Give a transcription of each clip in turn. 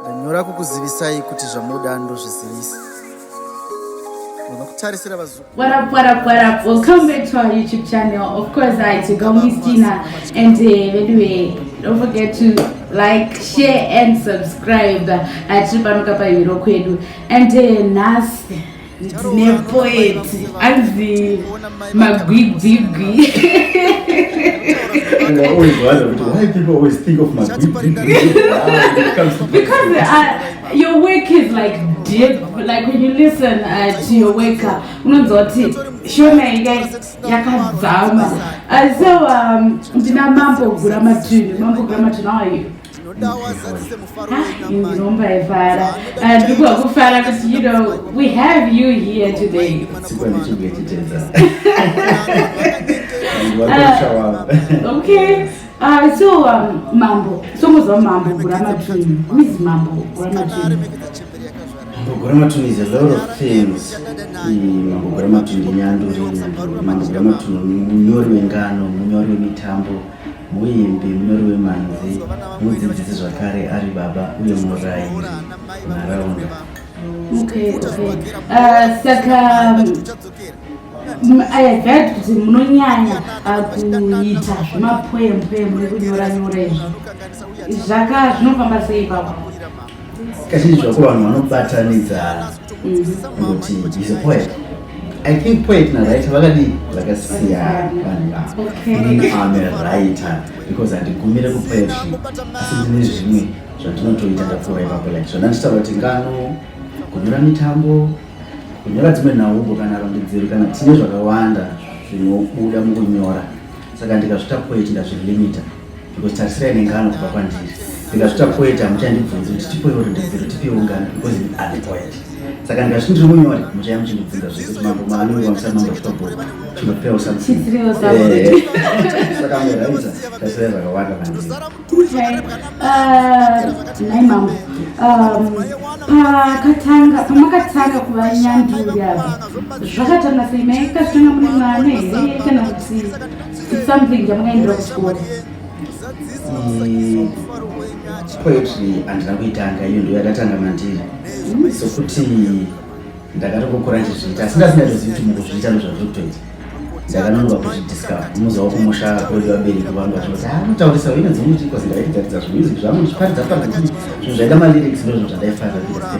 Ndanyora kukuzivisai kuti zvamoda ndozvizivisa. Unokutarisira vazukuru. What up, what up, what up? Welcome back to our YouTube channel. Of course, I it's your girl Miss Tina. And uh, by the way, don't forget to like, share and subscribe. Uh, tiri pano kapa hero kwedu. And uh, nhasi nepoeti anzi magwigwigwi and I always wonder why people always think of my because uh, your work is like deep like when you listen uh, to your work uh, unonzwa kuti shona inga yakadzama uh, so um, ndina mambo gura matini mambo gura matini how are you ndikokufara kuti you know we have you here today uh, okay Uh, so um, mambo somuziva mambo guramatuni mizi mambo guramatuni mambo guramatuni is a lot of things hmm, mambo guramatuni ndinyanduri mambo guramatuni munyori wengano munyori wemitambo Uye Mbembe Rwemanzi mudzidzisi zvakare ari baba uye murairi munharaunda. Okay, okay. Uh, saka ayagadi kuti munonyanya ah, kuita zvemapoemupoemu nekunyora nyora izvi zvaka zvinofamba sei papa Kazhinji zvako vanhu vanobatanidzana kuti is a poet. I think poet naraita vakadii vakasiyana vanhu vavo. Ini am a writer because handigumire kupoetry asi ndine zvimwe zvandinotoita ndapfuura ipapo like zvandanditaura kuti ngano kunyora mitambo kunyora dzimwe nhaumbo kana rondedzero kana tine zvakawanda zvinobuda mukunyora saka ndikazvita poet ndazvilimita because tarisira ine ngano kubva kwandiri ndikazvita poet hamuchandibvunzi kuti tipoiwo rondedzero tipiwo ngano because ini ane poet saka ndikazviti ndiri munyori muchaya muchindibvunza zvese kuti mambo maanonge vamusana mambo zvitobhoi chinopewa samusaka meraita tasira zvakawanda mandiri nai mambo pakatanga pamakatanga kuva nyanduri ava zvakatanga sei maikazvitanga mune mwana here kana kuti something chamungaendera kuchikoro mm, poetry handina kuitanga iyo ndiyo yadatanga mandiri mm. sokuti ndakatokokora ndichizviita asi ndasingazivi kuti mukuzviita ndozvazviri kutoita ndakanonga kuzvidiscover muza wakumusha kwedu vabereki vangu vachivati ha ah, mutaurisa wine dzimwe chikosi ndairidzaridza zvimusic zvangu ndichiparidza pakuti zvinhu zvaida malyrics ndozvinhu zvandaifarira kuita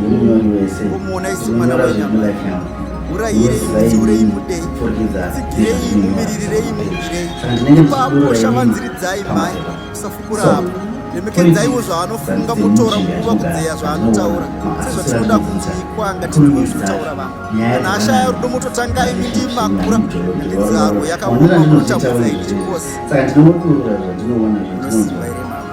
nemunyori wese unyora zvemulife yangu urayireitsiurei mudei tsigirei mumiririrei murirei ipapo shavanziridzai mhai usafukurapo remekedzaiwo zvaanofunga motora nguva kudzeya zvaanotaura sezvatinoda kunzi ikwanga tinowo zvinotaura vanhu kana ashaya rudo mototangai mindi makura nenzaro yakaoma motakudzai ndichikosi unoziva here mama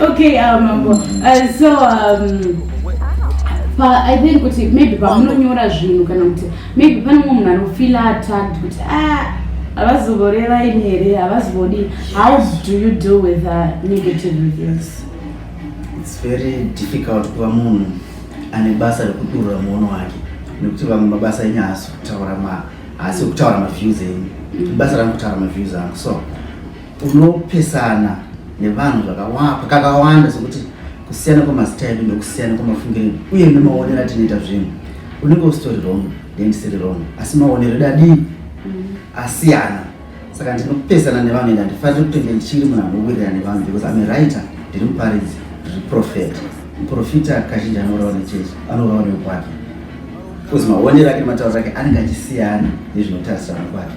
Okay, um, mambo. Uh, so, um, pa, I think kuti maybe pamunonyora zvinhu kana kuti maybe pane mumwe munhu anofila attacked kuti ah, havazovoreva ini here havazovodi how do you deal with uh, negative reviews it's very difficult kuva munhu ane basa rekudurura muono wake nekuti vamwe mabasa enyu haasi kutaura ma haasi kutaura maviews enyu mm. basa rangu kutaura maviews angu so unopesana nevanhu zvakawapa kakawanda sokuti kusiyana kwemazita edu nekusiyana kwemafungiro edu uye nemaonero atinoita zvinhu unenge usitori wrong ndendisiri wrong asi maonero edu adii mm. asiyana saka ndinopesana nevanhu ende handifaniri kutenge ndichiri munhu anowirirana nevanhu because ame writer ndiri muparidzi ndiri profet muprofita kazhinji anourawa nechechi anourawa neukwake bcause maonero ake nematauro ake anenge achisiyana nezvinotarisirana kwake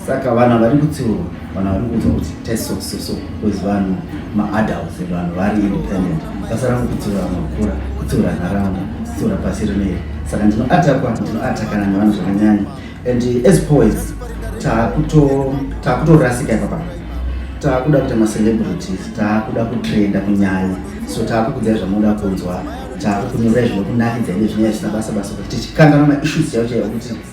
saka vana vari kutsiurwa vana vari kuudzwa kuti tesososo bcause vanhu maadults vanhu vari independent basa rangu kutsiura makura kutsiura nharaunda kutsiura pasi rineri saka ndinoatakwa ndinoatakana nevanhu zvakanyanya and as poets takutorasika ipapa takuda kuita macelebrities takuda kutrenda kunyanya so takukudzai zvamunoda kunzwa takukunyorai zvinokunakidza ine zvinyaya zvisina basa basa kuti tichikanganwa maissues chaivo chaivo kuti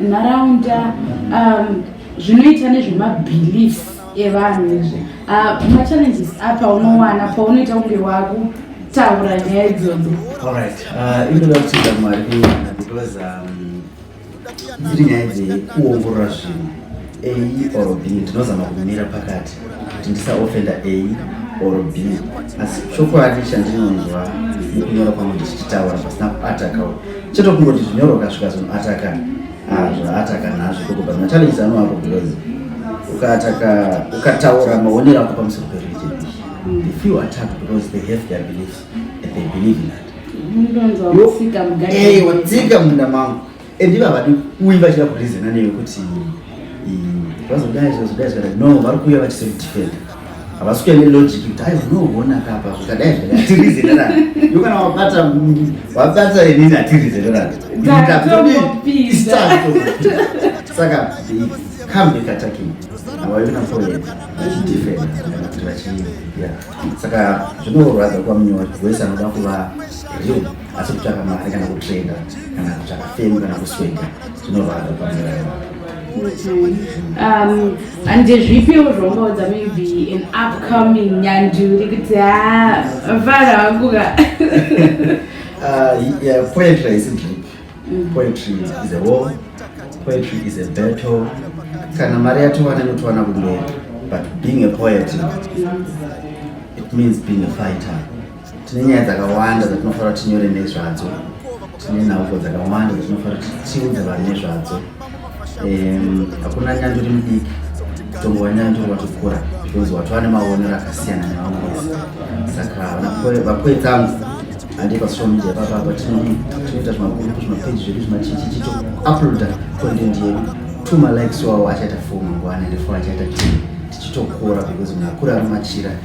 nharaunda um, zvinoita nezvemabelief evanhu izvi uh, machallenges apa unowana paunoita kunge wako taura nyaya idzodzo alright uh, inoda kutida mwari kuwana because um, dziri nyaya dzekuongorora zvinhu A or B ndinozama kumira pakati kuti ndisaofenda A or B asi chokwadi chandinonzwa nekunyora kwangu ndichichitaura pasina kuatakawo chete kungoti zvinyorwa kasvika zvinoataka ah, zvaataka nazvo kokuba machallenges anoapo because ukaataka ukataura maonero ako pamusoro pereligion the few attack because they have their beliefs and they believe in that ndonzwa musika mugari eyi watsika munda mangu and iva vadi uyi vachida kurizena neyo kuti vazodai zvazodai zvakadai no vari kuuya vachisodefenda havasi kuya nelogic kuti ai unoona kapa zvakadai zvakadai hatirizenerana yo kana wabata wabata inini hatirizenerana saka come back attacking havaina problem vachidefenda vachii saka zvinorwadza kwamunyori wese anoda kuva real asi kutsvaka mari kana kutrenda kana kutsvaka femu kana kusweka zvinorwadza pamirayo um, handezvipiwo zvongaudza maybe an upcoming nyanduri kuti ha vana vanguka uh, poetry haisi drip mm. poetry is a war poetry is a battle kana mari yatowana inotowana kumberi but being a poet it means being a fighter tine nyaya dzakawanda dzatinofanira kuti tinyore nezvadzo tine nhauko dzakawanda dzatinofanira kuti tiudze vanhu nezvadzo hakuna nyanzvi ri mudiki mutongo wanyanzvi ri watokura because wati vane maonero akasiyana nevamwe vese saka vapoetsangu handi pasocial media papapa tinoita zvimagurupu zvimapeji zvedu zvimachichichi to uploada content yedu tuma likes wawo achaita fuma ngwana ndefo achaita tichitokura because munhu akura ari machira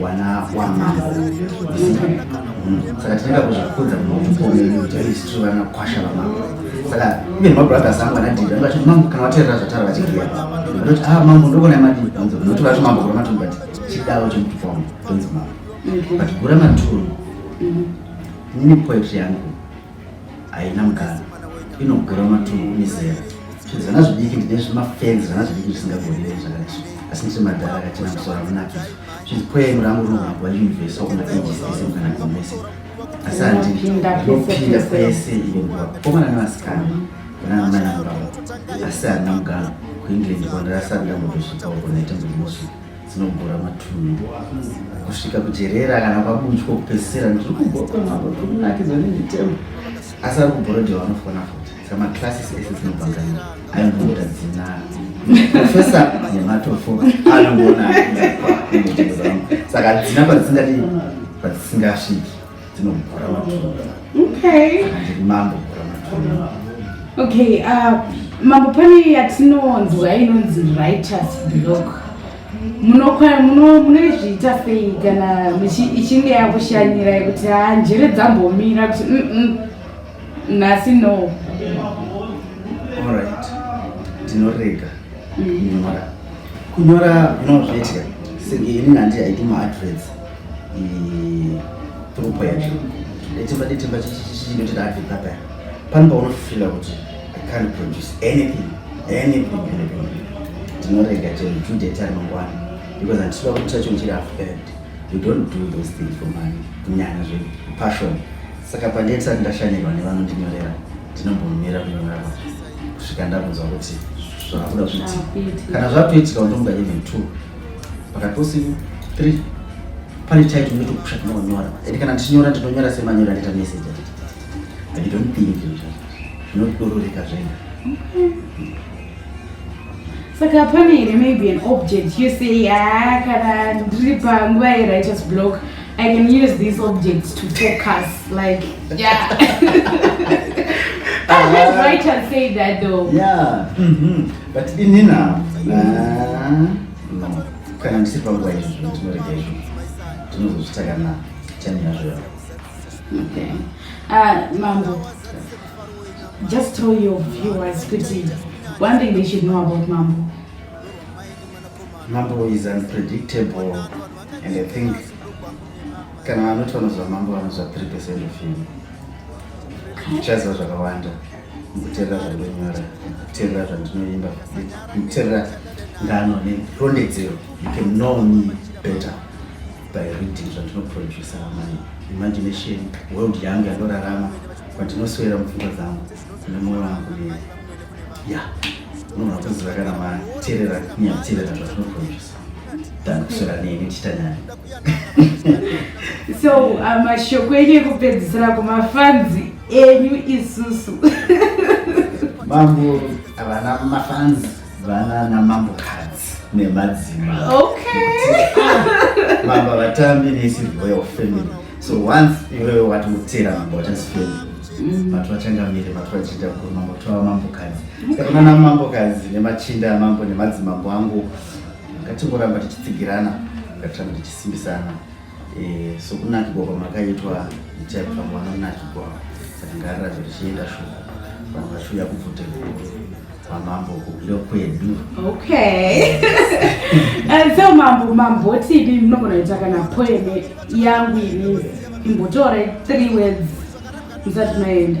wana wamambo saka tinoenda kuzvikudza kunomukomeni kuti aisitu vanakwasha vamambo saka even mabrothers angu anadhiri angu achiti mambo kana vateerera zvatara vachibhuya vanoti a ah, mambo ndokona madii anzi noti vati mambo gura matunhu but chidawo chemutupo wangu tonzi mambo but gura matunhu nini poetry yangu haina mukana inogura matungu mizera zvana zvidiki ndezvemafenzi zvana zvidiki zvisingagonei zvakadai asi ndisi madhara akachena musoro amunakizvo zvinzi pwenu rangu ruhwagwa universe wakona ages ese mukana kumese asi handinopinda kwese ivo nguva komana nevasikana vanaamai angu ravo asi handina mugano kuengland kwandarasandambotosvika uko naita mbumosu dzinobhora matumbu kusvika kujerera kana kwabudyo kupesera ndiri kubhora kwemambo ndiri kunakidzwa nemitemo asi ari kubhorodhe vanofona futi saka maclasses ese dzinobhanganira aimbobuda dzina profesa nematofo anongoona saka dzina padzisingati padzisingasviki dzinomukura matumbu okay mambo kura matumbu okay uh, mambo pane yatinonzwa inonzi writers block munoizviita sei kana ichinge yakushanyira yekuti ha njere dzambomira kuti mm, mm, nhasi no orit tinorega mm. kunyora kunyora unozviitya senge ini nandi haidi maadvets throughpo yacho detemba detemba chinoti ndaadvika paya pano paunofila kuti i can't produce anything anything anything tinorega chero two date ari mangwana because handisiva kuti chacho ndichiri afed you don't do those things for money kunyanya zve passion saka pandee tisati ndashanyirwa nevanondinyorera ndinombomira kunyorera kusvika ndakunzwa kuti zvakabuda kuti kana zvakutoitika undomuka even two pakatosiwa three pane title ndotokusha tinonyora and kana ndichinyora ndinonyora semanyora ndita message i don't think zvinodororeka zvega saka pane here maybe an object you say ya ah, kana ndiri panguva yerighteous block i can use these objects to focus like yeah ah, Let's write and say that though. Yeah. Mm -hmm. but ini na kana ndisiri panguva izvo zvino tinorega izvo tinozozvita kana time yazvo yavo okay uh, mambo just tell your viewers kuti one thing they should know about mambo mambo is unpredictable and i think kana vanoti vanoziva mambo vanoziva three percent of him zvichaziva zvakawanda kuterera zvandonyora kuterera zvandinoimba kuterera ngano nerondedzero you can know me better by reading zvandinoproducer my imagination world yangu yandorarama kwandinoswera mupfungwa dzangu nemoyo wangu ne ya unoona kuziva kana materera kunyaterera zvandinoproducer so uh, mashoko enyu ekupedzisira kumafanzi enyu isusu mambo havana mafanzi vana namambo kadzi nemadzima mambo vatambi nesi royal family so once iwewe wati utera mambo wachasifamily Mm. vatu vachangamire vatu vachiita kuruma moto wamambokadzi saka kuna namambokadzi nemachinda amambo nemadzimambo angu ngatingoramba tichitsigirana ngatiramba tichisimbisana eh, sokunakigwa kwamakaitwa itai kuti vamwe vanonakigwa saka ngarirazvo richienda shoko vanhu vachiuya kubvute kwamambo kugulo kwedu okay and so mambo mambotipi munogona kuita kana poeme yangu ini imbotora three words musati maenda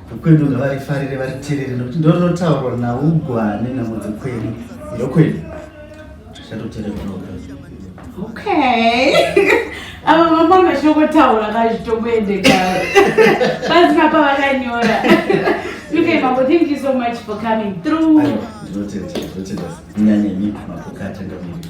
Kwedu ngavarifarire variterere nokuti ndonotaurwa naugwane namudzi kwedu yokwedu chatotereroka okay ava mama vachinokotaura kazvitomboendeka panzi papa vakanyora okay mambo thank you so much for coming through ndinotenda ndinotenda nyanyemi mapokatanga miri